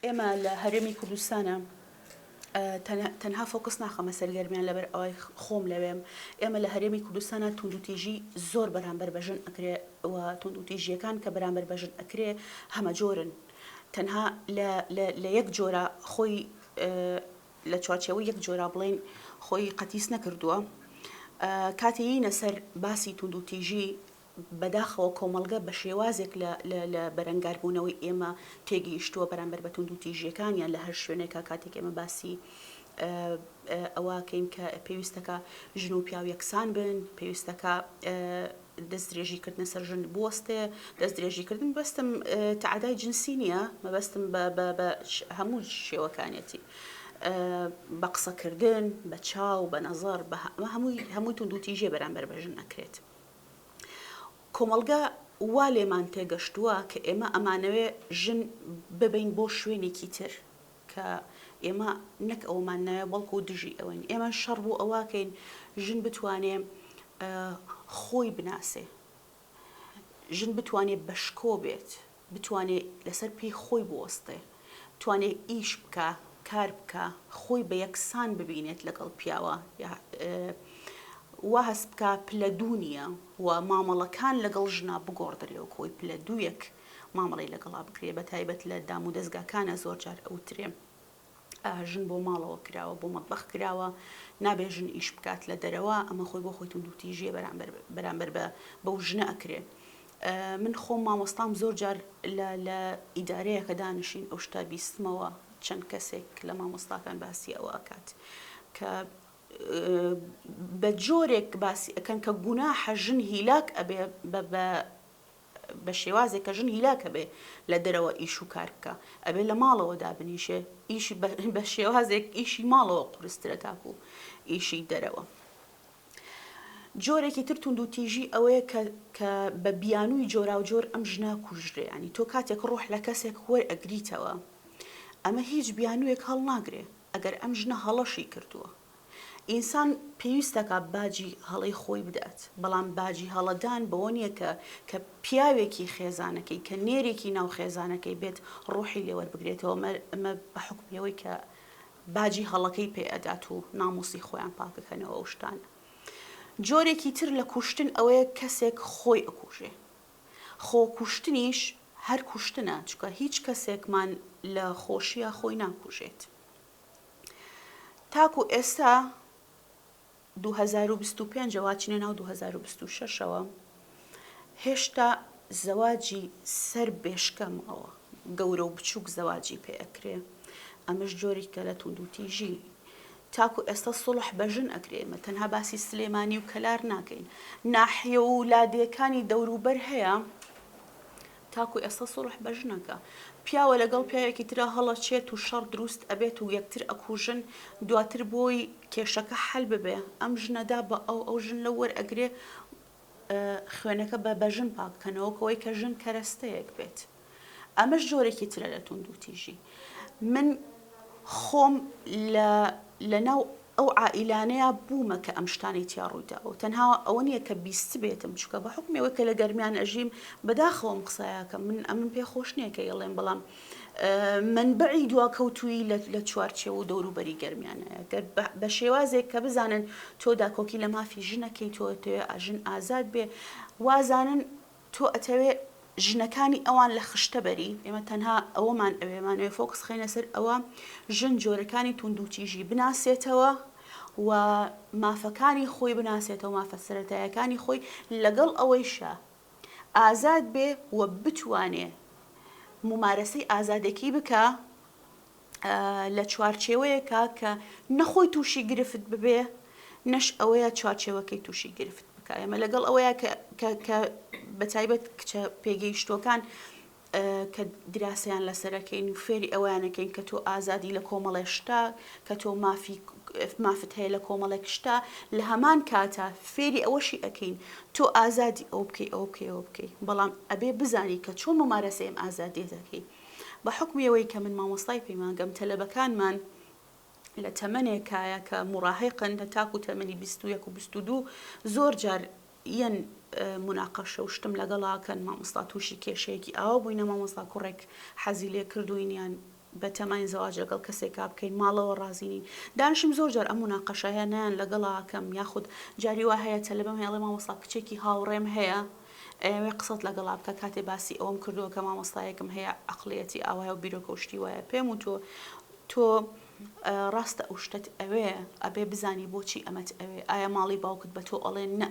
ئێمە لە هەرێمی کوردستانا تەنها فۆکس ناخەمە سەر گەرمیان لەبەر ئەوەی خۆم لەوێم ئێمە لە هەرێمی کوردستانا توندوتیژی زۆر بەرامبەر بە ژن ئەکرێ و توندوتیژیەکان کە بەرامبەر بە ژن ئەکرێ هەمە جۆرن تەنها لە یەک جۆرە خۆی لە چوارچەوە یەک جۆرا بڵین خۆی قەتیس نەکردووە کاتێینە سەر باسی توندوتیژی بەداخەوە کۆمەڵگە بە شێوازێک لە بەرەنگاربوونەوەی ئێمە تێگەیشتووە بەرامبەر بە توندوتیژییەکانیان لە هەر شوێنێکا کاتێک ئێمە باسی ئەوەکەین کە پێویستەکە ژن و پیاو یەکسان بن پێویستەکە دەست درێژیکردنە سەر ژن بوەستێ دەست درێژیکردن بەستم تعدای جنسی نییە مەبەستم بە هەموو شێوەکانێتی. بە قسەکردن بە چاو بە نەزەر بە هەمووی هەمووی توندوتیژێ بەرامبەر بە ژن نەکرێت. کۆمەڵگا وا لێمان تێگەشتووە کە ئێمە ئەمانەوێ ژن ببەین بۆ شوێنێکی تر کە ئێمە نەک ئەومان ناوێ بەڵکو دژی ئەوەین ئێمە شەڕ بۆ ئەوواکەین ژن بتوانێ خۆی بناسێ ژن بتوانێت بەشکۆ بێت بتوانێ لەسەر پێی خۆی بوەستێ، بتوانێ ئیش بکا، کار بکا، خۆی بە یەکسان ببینێت لەگەڵ پیاوە یا وا هەست بکا پلە دوو نییە و مامەڵەکان لەگەڵ ژنا بگۆڕدرێ و کۆی پلە دوویەک مامەڵەی لەگەڵا بکرێ، بەتایبەت لە دامودەزگاکانا زۆر جار ئەوترێ، ژن بۆ ماڵەوە کراوە بۆ مەتبەخ کراوە نابێ ژن ئیش بکات لە دەرەوە ئەمە خۆی بۆ خۆی توندوتیژیە بەرامبەر بە بەو ژنە ئەکرێ من خۆم مامۆستام زۆر جار لە ئیدارەیە کە دانیشین ئەو شتا بیستمەوە چەند کەسێک لە مامۆستاکان باسی ئەوە ئەکات کە بە جۆرێک باسی ئەەکەن کە گوناحە ژن هیلاک ئەبێ بە بە شێوازێک کە ژن هیلاک ئەبێ لە دەرەوە ئیش و کار بکا ئەبێ لە ماڵەوە دابنیشێ ئیشی بە شێوازێک ئیشی ماڵەوە قورسترە تاکو ئیشی دەرەوە. جۆرێکی تر توندوتیژی ئەوەیە کە کە بە بیانووی جۆراوجۆر ئەم ژنە کوژرێ ینی تۆ کاتێک ڕۆح لە کەسێک وەر ئەگریتەوە ئەمە هیچ بیانوویەک هەڵناگرێ ئەگەر ئەم ژنە هەڵەشی کردووە ئینسان پێویستەکا باجی هەڵەی خۆی بدات، بەڵام باجی هەڵەدان بەوە نییە کە کە پیاوێکی خێزانەکەی، کە نێرێکی ناو خێزانەکەی بێت ڕوحی لێ وەربگرێتەوە مە مە بە حوکمی ئەوەی کە باجی هەڵەکەی پێ ئەدات و ناموسی خۆیان پاکەکەنەوە ئەو شتانە. جۆرێکی تر لە کوشتن ئەوەیە کەسێک خۆی ئەکوژێ. خۆ کوشتنیش هەر کوشتنە چونکە هیچ کەسێکمان لە خۆشیا خۆی ناکوژێت. تاکو ئێستا دوو هەزار و بیست و پێنج ەوە ئەچینە ناو دوو هەزار و بیست و شەش ەوە هێشتا زەواجی سەر بێشکەم ئەوە گەورە و بچووک زەواجی پێ ئەکرێ ئەمەش جۆرێکە لە توندوتیژی تاکو ئێستا سڵح بە ژن ئەکرێمە تەنها باسی سلێمانی و کەلار ناکەین ناحیە و لادێکانی دەوروبەر هەیە تاکو ئێستا سوڵح بە ژنەکە پیاوە لەگەڵ پیاوێکی ترا هەڵەچێت و شەڕ دروست ئەبێت و یەکتر ئەکوژن دواتر بۆی کێشەکە حەل ببێ ئەم ژنە دا بە ئەو ئەو ژن لەو وەر ئەگرێ خوێنەکە بە بە ژن پاک کەنەوە کەوەی کە ژن کەرەستەیەک بێت ئەمەش جۆرێکی ترە لە توندوتیژی من خۆم لە لە ناو ئەو عائیلانەیا بوومە کە ئەم شتانەی تیا ڕوویداوە و تەنها ئەوە نییە کە بیستبێتم چونکە بە حوکمی ئەوەی کە لە گەرمیان ئەژیم بەداخەوە ئەم قسایاکەم من ئەمن پێ خۆش نییە کە یڵێم بەڵام مەنبەعی دواکەوتووی لە چوارچێوە و دەوروبەری گەرمیانەیە گەر بە شێوازێک کە بزانن تۆ داکۆکی لە مافی ژنەکەی تۆ تەوێ ئاژن ئازاد بێ وازانن تۆ ئەتەوێ ژنەکانی ئەوان لە خشتە بەری، ئێمە تەنها ئەوەمان ئەوێ، ئەمانەوێ فۆکس بخەینە سەر ئەوە ژن جۆرەکانی توندوتیژی بناسێتەوە و مافەکانی خۆی بناسێتەوە، مافە سەرەتایەکانی خۆی، لەگەڵ ئەوەیشا ئازاد بێ و بتوانێ مومارەسەی ئازادێکی بکا، لە چوارچێوەیەکە کە نە خۆی تووشی گرفت ببێ نەش ئەوەیە چوارچێوەکەی تووشی گرفت بکە ئێمە لەگەڵ ئەوەیە کە بە تایبەت کچە پێگەیشتوەکان کە دراسیان لەسەرەکەین و فێری ئەویانەکەین کە تۆ ئازادی لە کۆمەڵێ شتا کە تۆ مافی مافت هەیە لە کۆمەڵێک شتا لە هەمان کاتە فێری ئەوەشی ئەەکەین تۆ ئازادی ئەو بکەی ئەو بکەی ئەو بکەی بەڵام ئەبێ بزانی کە چۆن ممارەسەیەم ئازادێتەکەی بە حوکمی ئەوەی کە من مامۆستای پەیمانگەم تەلەبەکانمان لە تەمەنێکایە کە مڕاهقن لە تاکو تەمەنی 21 و 22 زۆر جار یەن مناقەشە و شتم لەگەڵاکەن مامۆستا تووشی کێشەیەکی ئاوا بووینە مامۆستا کوڕێک حەزی لێ کردوینیان بە تەمای زەواج لەگەڵ کەسێک کا بکەین ماڵەوە ڕازینین دانشم زۆر جار ئەم مناقەشایە نیان لەگەڵاکەم یاخود جاری وا هەیە تەلبم هێڵێ مامۆستا کچێکی هاوڕێم هەیە ئەیەوێ قسەت لەگەڵا بکا کاتێ باسی ئەوەم کردوە کە مامۆستایەکم هەیە ئەقڵیەتی ئاوایە و بیرۆکە و شتی وایە پێم وتوە تۆ ڕاستە ئەو شتەت ئەوێ ئەبێ بزانی بۆچی ئەمەت ئەوێ ئایا ماڵی باوکت بە تۆ ئەڵێن نە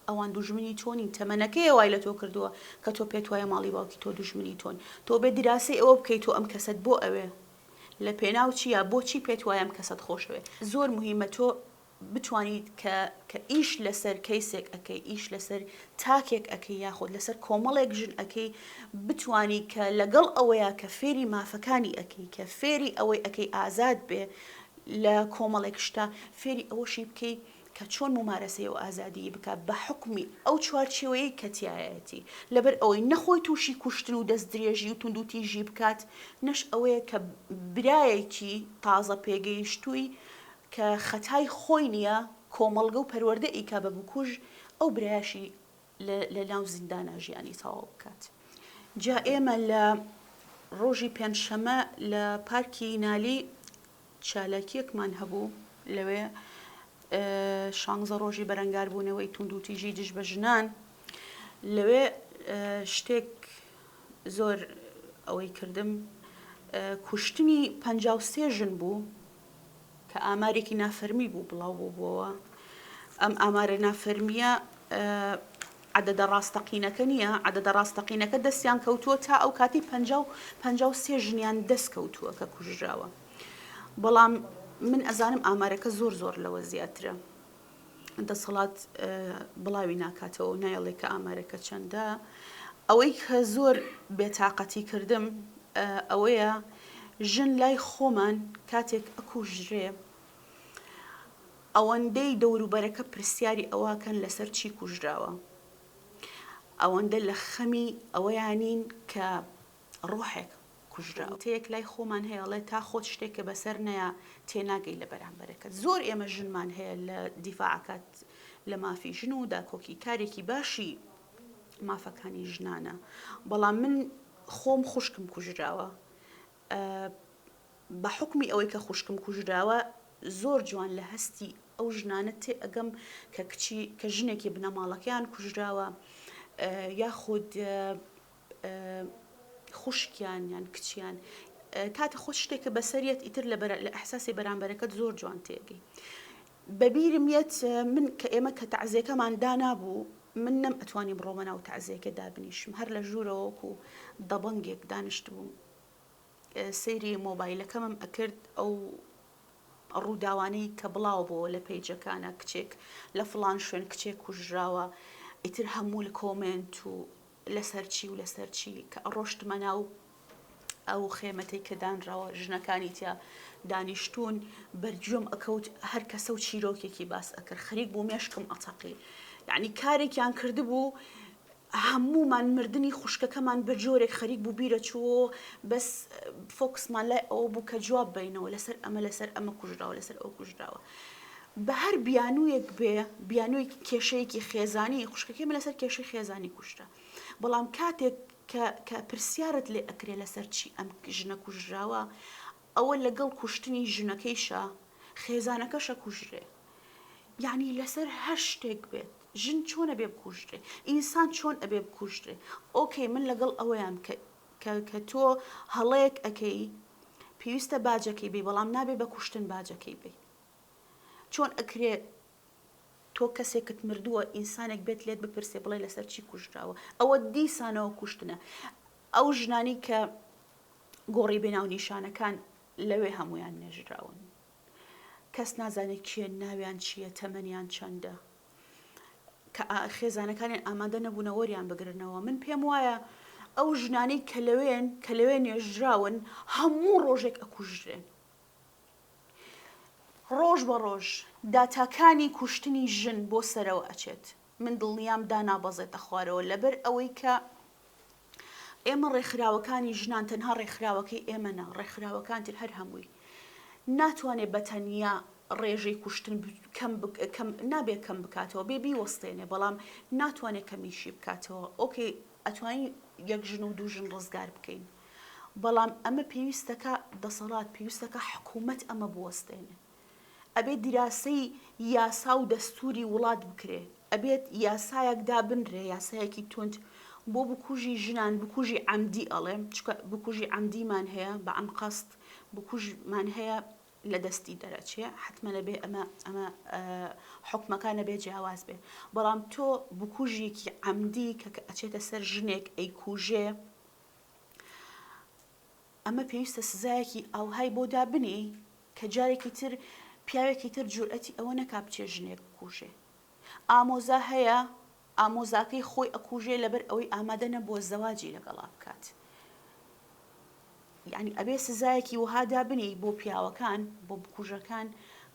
ئەوان دوژمنی تۆنین تەمەنەکەی وای لە تۆ کردووە کە تۆ پێت وایە ماڵی باوکی تۆ دوژمنی تۆن تۆ بێ دراسی ئەوە بکەیت تۆ ئەم کەسەت بۆ ئەوێ لە پێناو چییە بۆچی پێت وایم کەسەت خۆشەوێ زۆر مهمە تۆ بتوانیت کە کە ئیش لەسەر کەیسێک ئەکەی ئیش لەسەر تاکێک ئەکەی یاخود لەسەر کۆمەڵێک ژن ئەەکەی بتانی کە لەگەڵ ئەوەیە کە فێری مافەکانی ئەەکەی کە فێری ئەوەی ئەەکەی ئازاد بێ لە کۆمەڵێک شتا فێری ئەوەشی بکەی کە چۆن ممارەسەی و ئازادی بک بە حکمی ئەو چوارچێوەیە کەتیایەتی لەبەر ئەوەی نەخۆی تووشی کوشتن و دەست درێژی و توندوتی ژی بکات نەش ئەوەیە کە برایەکی تازە پێگەیشتووی کە خەتای خۆی نیە کۆمەڵگە و پەروەردە ئیکا بە بکوژ ئەو برایەشی لە لە ناو زیندانا ژیانی تەواو بکات جا ئێمە لە ڕۆژی پێنج شەمە لە پارکی نالی چالاکیەکمان هەبوو لەوێ شانزە ڕۆژی بەرەنگار بوونەوەی توند و تیژی دژ بە ژنان لەوێ شتێک زۆر ئەوەی کردم کوشتنی پ سێ ژن بوو کە ئامارێکی نافەرمی بوو بڵاو بووبووەوە، ئەم ئامارە نافەرمییە عەدەدە ڕاستەقینەکە نییە، عەدەدە ڕاستەقینەکە دەستیان کەوتووە تا ئەو کاتی پەنجا و پەنجا و سێ ژنیان دەست کەوتووە کە کوژراوە، بەڵام من ئەزانم ئامارەکە زۆر زۆر لەوە زیاترە. دەسەڵات بڵاوی ناکاتەوە و نایڵێ کە ئامارەکە چەندە، ئەوەی کە زۆر بێتاقەتی کردم ئەوەیە ژن لای خۆمان کاتێک ئەکوژرێ ئەوەندەی دەوروبەرەکە پرسیاری ئەوەکەن لەسەر چی کوژراوە، ئەوەندە لە خەمی ئەوەیانین کە ڕۆحێک کوژراوە. وتەیەک لای خۆمان هەیە ئەڵێ تا خۆت شتێکە بەسەر نەیا تێناگەی لە بەرامبەرەکەت. زۆر ئێمە ژنمان هەیە لە دیفاع ئەکات لە مافی ژن و داکۆکی کارێکی باشی مافەکانی ژنانە بەڵام من خۆم خوشکم کوژراوە بە حکمی ئەوەی کە خوشکم کوژراوە زۆر جوان لە هەستی ئەو ژنانە تێ ئەگەم کە کچی کە ژنێکی بنەماڵەکەیان کوژراوە یاخود خوشکیان یان کچیان کاکە خۆ شتێکە بەسەر یەت ئیتر لە بەرە لە ئەحساسی بەرامبەرەکەت زۆر جوان تێگەی بەبیرم یەت من کە ئێمە کە تەعزیەکەمان دانابوو من نەم ئەتوانی بڕۆمە ناو تەعزیەکە دابنیشم هەر لە ژوورەوەکو و دەبەنگێک دانیشت بووم سەیری مۆبایلەکەمم ئەکرد ئەو ڕووداوانەی کە بڵاو بۆ لە پەیجەکانە کچێک لە فلان شوێن کچێک کوژراوە ئیتر هەموو لە کۆمنت و لەسەر چی و لەسەر چی کە ئەڕۆشتمە ناو ئەو خێمەتەی کە دانراوە ژنەکانی تیا دانیشتوون بەرگوێم ئەکەوت هەر کەسە و چیرۆکێکی باس ئەکرد خەریک بوو مێشکم ئەتەقی یعنی کارێکیان کردبوو هەمومان مردنی خوشکەکەمان بە جۆرێک خەریک بوو بیرە چوو بەس فۆکسمان لای ئەوە بوو کە جواب بینەوە لەسەر ئەمە لەسەر ئەمە کوژراوە لەسەر ئەو کوژراوە بەهەر بیانوویەک بێ بیانووی کێشەیەکی خێزانی خوشکەکەی من لەسەر کێشەی خێزانی کوشتە بەڵام کاتێک کە پرسیارت لێ ئەکرێ لەسەر چی ئەم ژنە کوژراوە ئەوە لەگەڵ کوشتنی ژنەکەیشە خێزانەکەشە کوژرێ یعنی لەسەر هەر شتێک بێت ژن چۆنە بێ بکوژرێ ئینسان چۆن ئەبێ بکوژرێ ئۆکەی من لەگەڵ ئەوەیان کە کە کە تۆ هەڵەیەک ئەکەی پێویستە باجەکەی بی بەڵام نابێ بە کوشتن باجەکەی بی چۆن ئەکرێ تۆ کەسێکت مردووە ئینسانێک بێت لێت بپرسێ بڵێ لەسەر چی کوژراوە ئەوە دیسانەوە کوشتنە ئەو ژنانی کە گۆڕی بێناو نیشانەکان لەوێ هەمویان نێژراون کەس نازانێت کێن ناویان چییە تەمەنیان چەندە کە خێزانەکانیان ئامادە نەبوونە وەریان بگرنەوە من پێم وایە ئەو ژنانەی کە لەوێن کە لەوێ نێژراون هەموو ڕۆژێک ئەکوژرێن ڕۆژ بە ڕۆژ داتاکانی کوشتنی ژن بۆ سەرەوە ئەچێت من دڵنیام دانابەزێتە خوارەوە لەبەر ئەوەی کە ئێمە ڕێکخراوەکانی ژنان تەنها ڕێکخراوەکەی ئێمە نا، ڕێکخراوەکان تر هەر هەمووی ناتوانێت بە تەنیا ڕێژەی کوشتن نابێت کەم بکاتەوە بێ بیوەستێنێ بەڵام ناتوانێت کەمیشی بکاتەوە ئۆکەی ئەتوانین یەک ژن و دوو ژن ڕزگار بکەین بەڵام ئەمە پێویستەکە دەسەڵات پێویستەکە حکوومەت ئەمە بوەستێنێ ئەبێت دیراسەی یاسا و دەستوری وڵات بکرێ ئەبێت یاسایەک دابنرێ یاسایەکی توند بۆ بکوژی ژنان بکوژی عەمدی ئەڵێم چکە بکوژی عەمدیمان هەیە بە ئەنقەست بکوژمان هەیە لە دەستی دەرەچێ حتممە بێ ئەمە ئەمە حکومەکانە بێ جیاواز بێ بەڵام تۆ بکوژێکی عەمدی کە کە ئەچێتە سەر ژنێک ئەی کوژێ ئەمە پێویستە سزایەکی ئەوهای بۆ دابنی کە جارێکی تر پیاوێکی تر جورئەتی ئەوە نەکا بچێ ژنێک بکوژێ ئامۆزا هەیە ئامۆزاکەی خۆی ئەکوژێ لەبەر ئەوەی ئامادە نەبووە زەواجی لەگەڵا بکات یعنی ئەبێ سزایەکی وەها دابنێی بۆ پیاوەکان بۆ بکوژەکان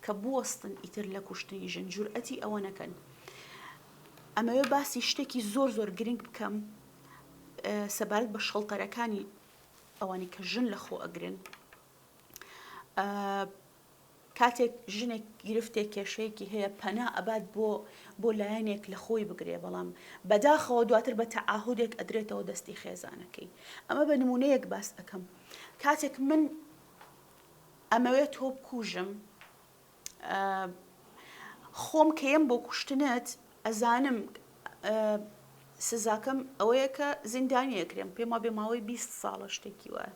کە بوەستن ئیتر لە کوشتنی ژن جورئەتی ئەوە نەکەن ئەمەوێ باسی شتێکی زۆر زۆر گرنگ بکەم سەبارەت بە شەڵتەرەکانی ئەوانی کە ژن لە خۆ ئەگرن کاتێک ژنێک گرفتێک کێشەیەکی هەیە پەنا ئەبات بۆ بۆ لایەنێک لە خۆی بگرێ بەڵام بەداخەوە دواتر بە تەعاهودێک ئەدرێتەوە دەستی خێزانەکەی ئەمە بە نمونەیەک باس ئەەکەم کاتێک من ئەمەوێت تۆ بکوژم خۆم کەم بۆ کوشتنت ئەزانم سزاکەم ئەوەیە کە زیندانیەکرێم پێم وا بێ ماوەی 20 ساڵە شتێکی وایە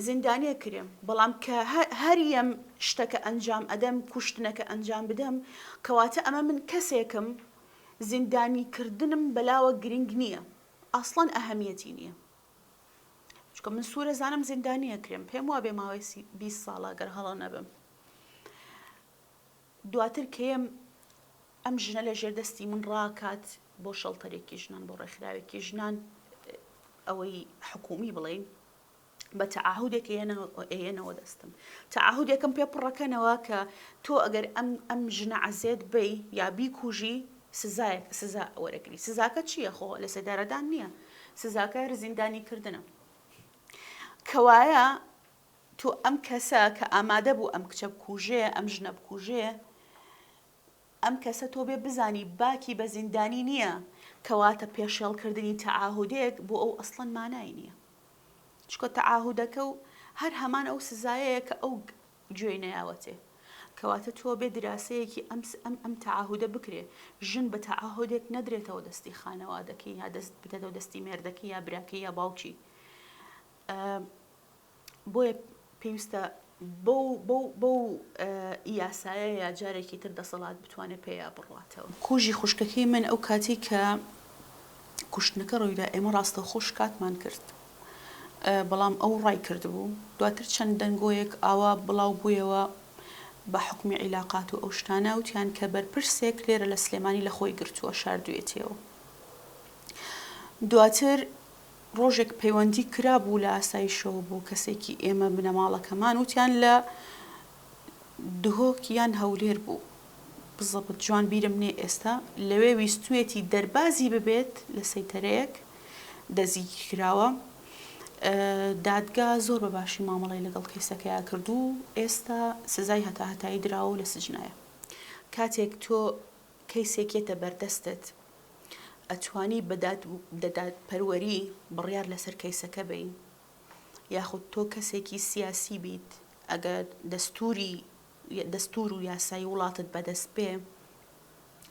زیندانیە کرێم بەڵام کە هەریم شتەکە ئەنجام ئەدەم کوشتنەکە ئەنجام بدەم کەواتە ئەمە من کەسێکم زیندانی کردنم بەلاوە گرنگ نییە ئاسڵان ئەهەمیەتی نییە چکە من سوورە زانم زیندانیە کرێم پێم وا بێ ماوەی 20 ساڵە گەر هەڵە نەبم دواتر کێم ئەم ژنە لە ژێر دەستی من ڕاکات بۆ شەڵتەرێکی ژنان بۆ ڕێکخراوێکی ژنان ئەوەی حکومی بڵین بە تەعاهودێک ئێنەوە دەستم تەعاهودێکم پێ پڕەکەنەوە کە تۆ ئەگەر ئەم ئەم ژنە عزێت بی یا بیکوژی سزایەک سزا وەرەگری سزاکە چییە خۆ لە سێدارەدان نییە سزاکە رزیندانی کردنە کەوایە تۆ ئەم کەسە کە ئامادە بوو ئەم کچە بکوژێ ئەم ژنە بکوژێ ئەم کەسە تۆ بێ بزانی باکی بە زیندانی نییە کەواتە پێشێڵ کردنی تەعاهودێک بۆ ئەو ئەسڵەن مانای نییە چکە تەعاهودەکە و هەر هەمان ئەو سزایەیە کە ئەو گوێی نەیاوەتێ کەواتە تۆ بێ دراسەیەکی ئەم ئەم ئەم تەعاهودە بکرێ ژن بە تەعاهودێک نەدرێتەوە دەستی خانەوادەکەی یا دەست بدەتەوە دەستی مێردەکەی یا براکەی یا باوکی بۆیە پێویستە بەو یاسایەیە جارێکی تر دەسەڵات بتوانێت پێیا بڕاتەوە. کۆژی خوشکەکەی من ئەو کاتی کە کوشتنەکە ڕوویدا ئێمە ڕاستەوخۆ شکاتمان کرد. بەڵام ئەو ڕای کردبوو دواتر چەند دەنگۆیەک ئاوا بڵاو بوویەوە بە حکومی عیلاقات و ئەو شتانە وتیان کە بەرپرسێک لێرە لە سلێمانی لە خۆی گرتووە شاردوێتیەوە. دواتر ڕۆژێک پەیوەندی کرابوو لە ئاسایشەوە بۆ کەسێکی ئێمە بنەماڵەکەمان وتیان لە دهۆک یان هەولێر بوو بزەبت جوان بیرم نێ ئێستا لەوێ ویستوێتی دەربازی ببێت لە سەیتەرەیەک دەزیگیر کراوە دادگا زۆر بە باشی مامەڵی لەگەڵ کەیسەکەیا کردو ئێستا سزای هەتا هەتایی دراوە لە سجنایە کاتێک تۆ کەیسێکێتە بەردەستت ئەتوانی بە دادپەروەری بڕیار لەسەر کەیسەکە بەی یاخود تۆ کەسێکی سیاسی بیت ئەگەر دەستوری دەستور و یاسای وڵاتت بەدەست بێ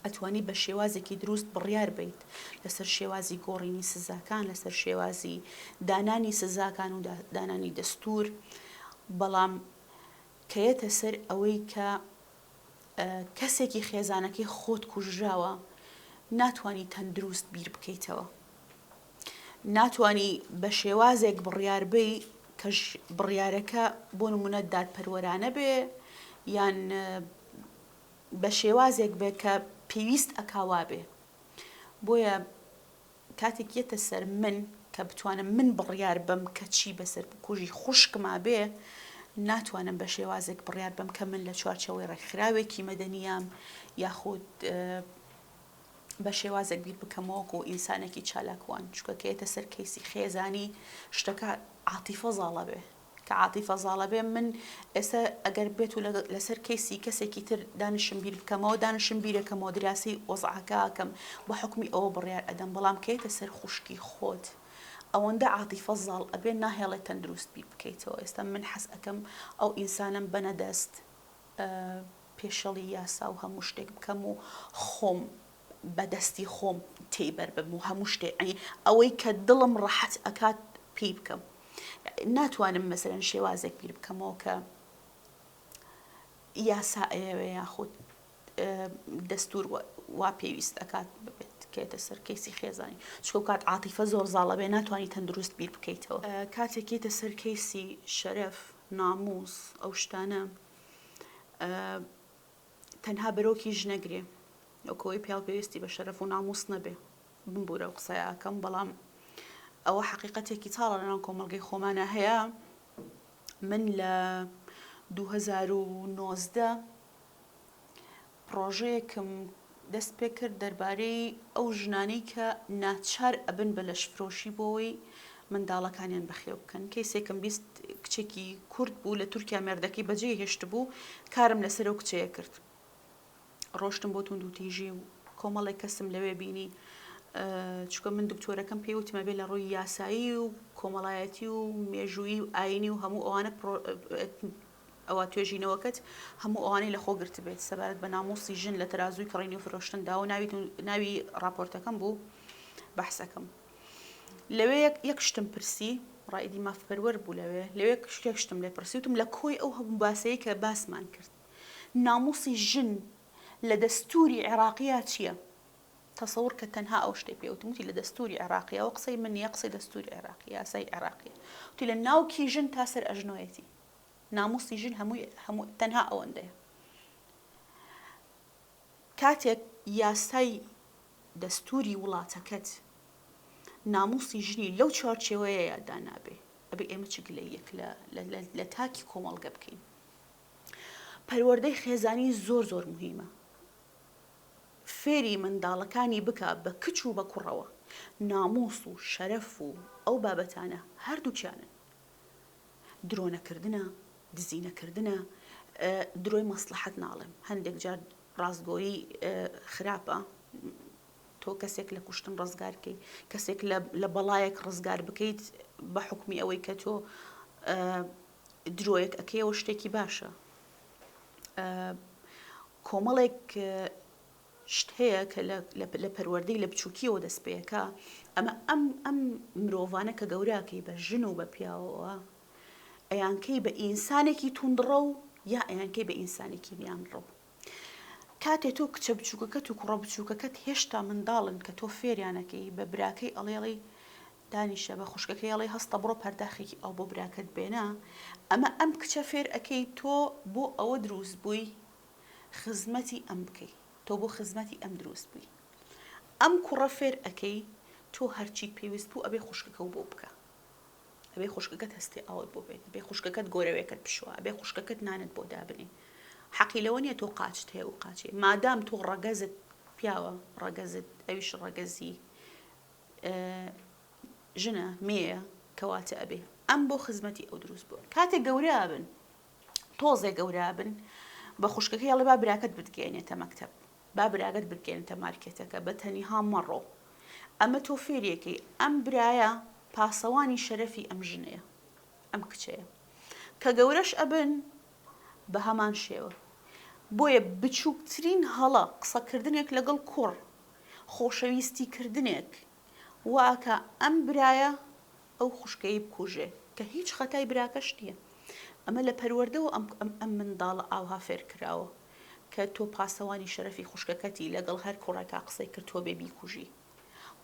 ئەتوانی بە شێوازێکی دروست بڕیار بیت لەسەر شێوازی گۆڕینی سزاکان لەسەر شێوازی دانانی سزاکان و دانانی دەستور بەڵام کەیەتە سەر ئەوەی کە کەسێکی خێزانەکەی خۆت کوژراوە ناتانی تەندروست بیر بکەیتەوە ناتانی بە شێوازێک بڕیاربی کە بڕیارەکە بۆ نمونە دادپەروەرانە بێ یان بە شێوازێک بێ کە پێویست ئەکاوا بێ بۆیە کاتێک یەتە سەر من کە بتوانم من بڕیار بەم کە چی بەسەر بکوژی خوشکما بێ ناتوانم بە شێوازێک بڕیار بەم کە من لە چوارچەوەی ڕێکخراوێکی مەدەنیام یاخود بە شێوازێک بیر بکەمەوەک و ئینسانێکی چالاکوان چکەکەێتە سەر کەیسی خێزانی شتەکە عاتیفە زاڵە بێ کە عاتیفە زاڵە بێ من ئێستا ئەگەر بێت و لەسەر کەیسی کەسێکی تر دانشم بیر بکەمەوە دانشم بیرەکەمەوە دراسی وەزعکەکەم بە حکمی ئەوە بڕیار ئەدەم بەڵام کەیتە سەر خوشکی خۆت ئەوەندە عاتیفە زاڵ ئەبێ ناهێڵێت تەندروست بیر بکەیتەوە ئێستا من حەز ئەەکەم ئەو ئینسانم بەنەدەست پێشەڵی یاسا و هەموو شتێک بکەم و خۆم بە دەستی خۆم تێی بەر بم و هەموو شتێ عنی ئەوەی کە دڵم ڕەحەت ئەکات پێی بکەم ناتوانم مەسەرەن شێوازێک بیر بکەمەوە کە یاسا ئەیەوێ یاخود دەستور وا پێویست ئەکات ببێت کێتە سەر کەیسی خێزانی چکە کات عاتیفە زۆر زاڵە بێ ناتوانانی تەندروست بیر بکەیتەوە کاتێکیتە سەر کەیسی شەرەف ناموس ئەو شتانە تەنها بەرۆکیش نەگرێ وەکو ئەوەی پیاو پێویستی بە شەرەف و نامووس نەبێ بمبورە و قسەی ئاکەم بەڵام ئەوە حەقیقەتێکی تاڵە لەناو کۆمەڵگەی خۆمانە هەیە من لە 2019 پرۆژەیەکم دەست پێکرد دەربارەی ئەو ژنانەی کە ناچار ئەبن بە لەشفرۆشی بۆوەی منداڵەکانیان بەخێو بکەن کەیسێکم بیست کچێکی کورد بوو لە تورکیا مێردەکەی بەجێ هێشت بوو کارم لەسەر و کچەیە کرد ڕۆشتم بۆ تونند و تیژی و کۆمەڵێک کەسم لەوێ بینی چکە من دکتۆرەکەم پێی وتمە بێ لە ڕووی یاسایی و کۆمەڵایەتی و مێژووی و ئاینی و هەموو ئەوانە ئەوا توێژینەوەکەت هەموو ئەوانەی لەخۆ گرتبێت سەبارەت بە ناموسی ژن لە تەرازووی کڕین و فرۆشتندا و ناوی ڕاپۆرتەکەم بوو بەحسەکەم لەوێ یەک شتم پرسی ڕایدی مافپەروەر بوو لەوێ لەوێ کشتێک شتم لێ پرسی وتم لە کۆی ئەو هەبوو باسەیە کە باسمان کرد ناموسی ژن لە دەستوری عێراقیە چییە؟ تەسەور کە تەنها ئەو شتێ پێوتموتی لە دەستوری عێراقیەوە قسەی من نیە قسەی دەستوری عێراقی یاسای عێراقی تی لە ناوکی ژن تا سەر ئەژنۆیەتی ناموسی ژن هەمووی هەموو تەنها ئەوەندەیە کاتێک یاسای دەستوری وڵاتەکەت ناموسی ژنی لەو چوارچێوەیە یادا نابێ ئەبێ ئێمە چ گلە یەک لە تاکی کۆمەڵگە بکەین پەروەردەی خێزانی زۆر زۆر مهمە فێری منداڵەکانی بکە بە کچ و بە کوڕەوە ناموس و شەرەف و ئەو بابەتانە هەردووکیانن درۆ نەکردنە، دزی نەکردنە، درۆی مەسڵەحەت ناڵێم، هەندێک جار ڕاستگۆیی خراپە، تۆ کەسێک لە کوشتن ڕزگار بکەیت، کەسێک لە بەڵایەک ڕزگار بکەیت بە حکومی ئەوەی کە تۆ درۆیەک ئەکەیەوە شتێکی باشە. کۆمەڵێک شت هەیە کە لە لە پەروەردەی لە بچوکیەوە دەست پێەکا ئەمە ئەم ئەم مرۆڤانە کە گەوراکەی بە ژن و بە پیاوەوە ئەیانکەی بە ئینسانێکی توندڕە و یا ئەیانکەی بە ئینسانێکی میان ڕەو کاتێ تۆ کچە بچووکەکەت و کوڕە بچووکەکەت هێشتا منداڵن کە تۆ فێریانەکەی بە براکەی ئەڵێڵی دانیشە بە خوشکەکەی ئەڵێ هەستە بڕۆ پەرداخێکی ئەو بۆ براکەت بێنە ئەمە ئەم کچە فێر ئەەکەی تۆ بۆ ئەوە دروست بووی خزمەتی ئەم بکەی تۆ بۆ خزمەتی ئەم دروست بوی ئەم کوڕە فێر ئەکەی تۆ هەرچیت پێویست بوو ئەبێ خوشکەکەو بۆ بکە ئەبێ خوشکەکەت هەستی ئاوت بۆ بێت ئەبێ خوشکەکەت گۆرەوێکت بشوە ئەبێ خوشکەکەت نانت بۆ دابنێ حەقی لەوە نیە تۆ قاچت هەیە و قاچێ مادام تۆ ڕەگەزت پیاوە ڕەگەزت ئەویش ڕەگەزی ژنە مێە کەواتە ئەبێ ئەم بۆ خزمەتی ئەو دروست بووە کاتێک گەورە بن تۆزێ گەورە بن بە خوشکەکەی ئەڵێ با براکەت بتگەێنێتە مەکتب با براگەت بگەێنتە مارکێتەکە بە تەنیها مەڕۆ ئەمە تۆ فێریەکەی ئەم برایە پاسەوانی شەرەفی ئەم ژنەیە ئەم کچەیە کە گەورەش ئەبن بە هەمان شێوە بۆیە بچووکترین هەڵە قسەکردنێک لەگەڵ کوڕ خۆشەویستی کردنێک واکە ئەم برایە ئەو خوشکەی بکوژێ کە هیچ خەتای براکەش نیە ئەمە لە پەروەردەوە ئەم ئەم منداڵە ئاوها فێرکراوە کە تۆ پاسەوانی شەرەفی خوشکەکەتی لەگەڵ هەر کوڕێکا قسەی کرد تۆ بێ بیکوژی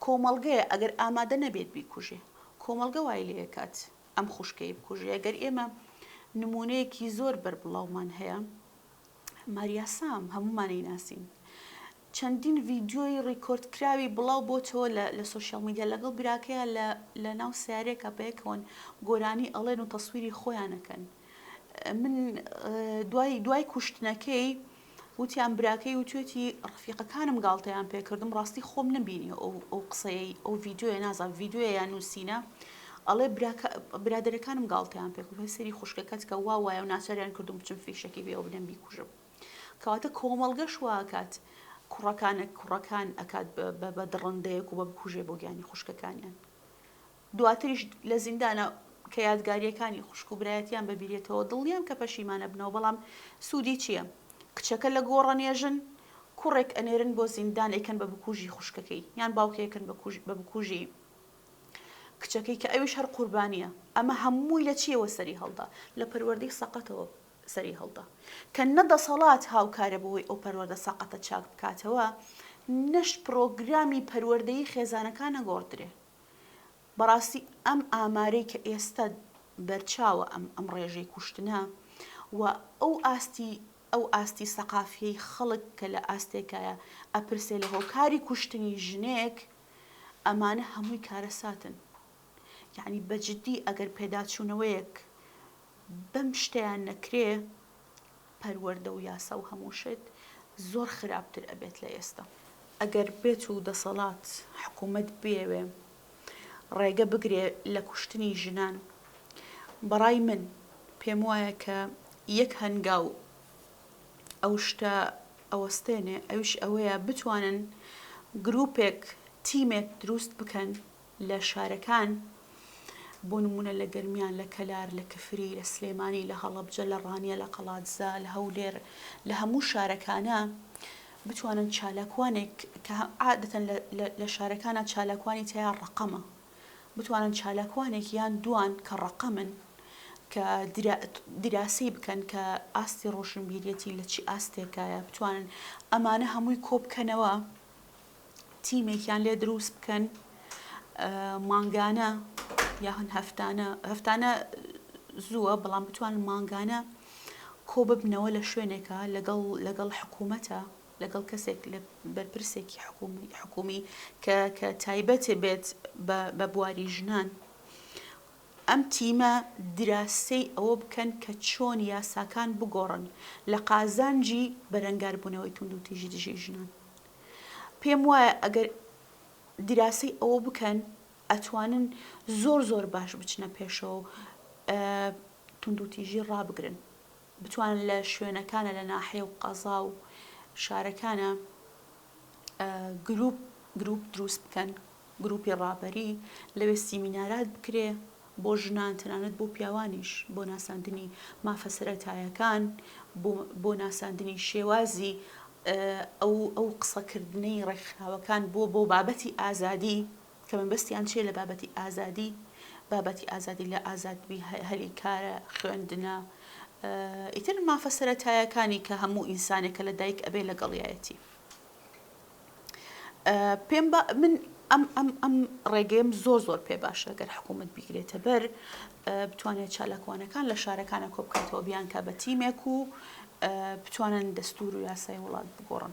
کۆمەڵگەیە ئەگەر ئامادە نەبێت بیکوژێ کۆمەڵگە وای لێ ئەکات ئەم خوشکەی بکوژێ گەر ئێمە نمونەیەکی زۆر بەربڵاومان هەیە ماریا سام هەمومانی ناسین چەندین ڤیدیۆی ڕیکۆرد کراوی بڵاو بۆتەوە لە سۆشیال میدیا لەگەڵ براکەیا لە ناو سەیارەیەکا پێکەوەن گۆرانی ئەڵێن و تەسویری خۆیان ئەکەن من دوای دوای کوشتنەکەی وتیان براکەی وتێتی ڕفیقەکانم گاڵتەیان پێکردم ڕاستی خۆم نبینی ئەو ئەو قسەیە ئەو ڤیددیوە نازان ڤیددیوە یان نووسینە ئەڵێ برادەرەکانم گاڵتەیان پێکم هەسەری خوشکەکەت کە وا وایە و ناچاریان کردم بچم فیشەکی بێ و بنەم بیکوژم کەواتە کۆمەڵگەش وا ئەکات کوڕەکان کوڕەکان ئەکات بە دڕندەیەک و بە بکوژێ بۆ گیانی خوشکەکانیان دواتریش لە زیندانە کە یادگاریەکانی خوشک و برایەتیان بەبیرێتەوە دڵنیام کە پەشیمانە بنەوە بەڵام سوودی چییە کچەکە لە گۆڕە نێژن کوڕێک ئەنێرن بۆ زیندان ئەیکەن بە بکوژی خوشکەکەی یان باوکەکەن بە بکوژی کچەکەی کە ئەویش هەر قوربانیە ئەمە هەمووی لە چیەوە سەری هەڵدا لە پەروەردەی سەقەتەوە سەری هەڵدا کە نە دەسەڵات هاوکارە بەوەی ئەو پەروەردە سەقەتە چاک بکاتەوە، نەش پرۆگرامی پەروەردەیی خێزانەکان نەگۆڕدرێ. بەڕاستی ئەم ئامارەی کە ئێستە بەرچاوە ئەم ئەم ڕێژەی کوشتنە و ئەو ئاستی ئەو ئاستی سەقافیەی خەڵک کە لە ئاستێکایە ئەپرسێ لە هۆکاری کوشتنی ژنێک ئەمانە هەمووی کارەساتن. یەعنی بە جدی ئەگەر پێداچوونەوەیەک، بەم شتەیان نەکرێ پەروەردە و یاسا و هەموو شت زۆر خراپتر ئەبێت لە ئێستا. ئەگەر بێت و دەسەڵات، حکوومەت، بیەوێ ڕێگە بگرێ لە کوشتنی ژنان، بەڕای من پێم وایە کە یەک هەنگاو ئەو شتە ئەوەستێنێ ئەویش ئەوەیە بتوانن گرووپێک، تیمێک درووست بکەن لە شارەکان بۆ نموونە لە گەرمیان، لە کەلار، لە کفری، لە سلێمانی، لە هەڵەبجە، لە ڕانیە، لە قەڵادزە، لە هەولێر، لە هەموو شارەکانە بتوانن چالاکوانێک کە عادەتەن لە شارەکانە چالاکوانی تیا ڕقەمە بتوانن چالاکوانێک یان دوان کە ڕقەمن کە دراسی بکەن کە ئاستی ڕۆشنبیرەتی لە چی ئاستێکایە بتوانن ئەمانە هەمووی کۆبکەنەوە تیمێکیان لێ دروست بکەن مانگانە یاخن هەفتانە هەفتانە زووە بەڵام بتوان مانگانە کۆ ببنەوە لە شوێنێکە لەگەڵ لەگەڵ حکوومەتە لەگەڵ کەسێک لە بەرپرسێکی حکومی حکومی کە کە تایبەتێ بێت بە بواری ژنان ئەم تیمە دراسەی ئەوە بکەن کە چۆن یاساکان بگۆڕن لە قازانجی بەرەنگاربوونەوەی توندوتیژی دژی ژنان. پێم وایە ئەگەر دراسەی ئەوە بکەن ئەتوانن زۆر زۆر باش بچنە پێشەوە و توندوتیژی ڕابگرن. بتوانن لە شوێنەکانە لە ناحێ و قەزا و شارەکانە گروپ گروپ دروست بکەن گروپی ڕابەری لەوێ سیمینارات بکرێ بۆ ژنان تەنانەت بۆ پیاوانیش بۆ ناساندنی مافە سەتایەکان بۆ ناساندنی شێوازی ئەو ئەو قسەکردنەی ڕێکخراوەکان بۆ بۆ بابەتی ئازادی کە مەبەستیان چیە لە بابەتی ئازادی بابەتی ئازادی لە ئازادبی هەلی کارە خوێندنە ئیتر مافە سەرەتایەکانی کە هەموو ئینسانێک کە لە دایک ئەبێ لەگەڵیایەتی پێم من ئەم ئەم ئەم ڕێگەم زۆر زۆر پێ باشە گەر حکوومەت بیگرێتە بەر بتوانێت چالاکوانەکان لە شارەکانە کۆبکاتەوە بیان کە بە تیمێک و بتوانن دەستور و یاسای وڵات بگۆڕن.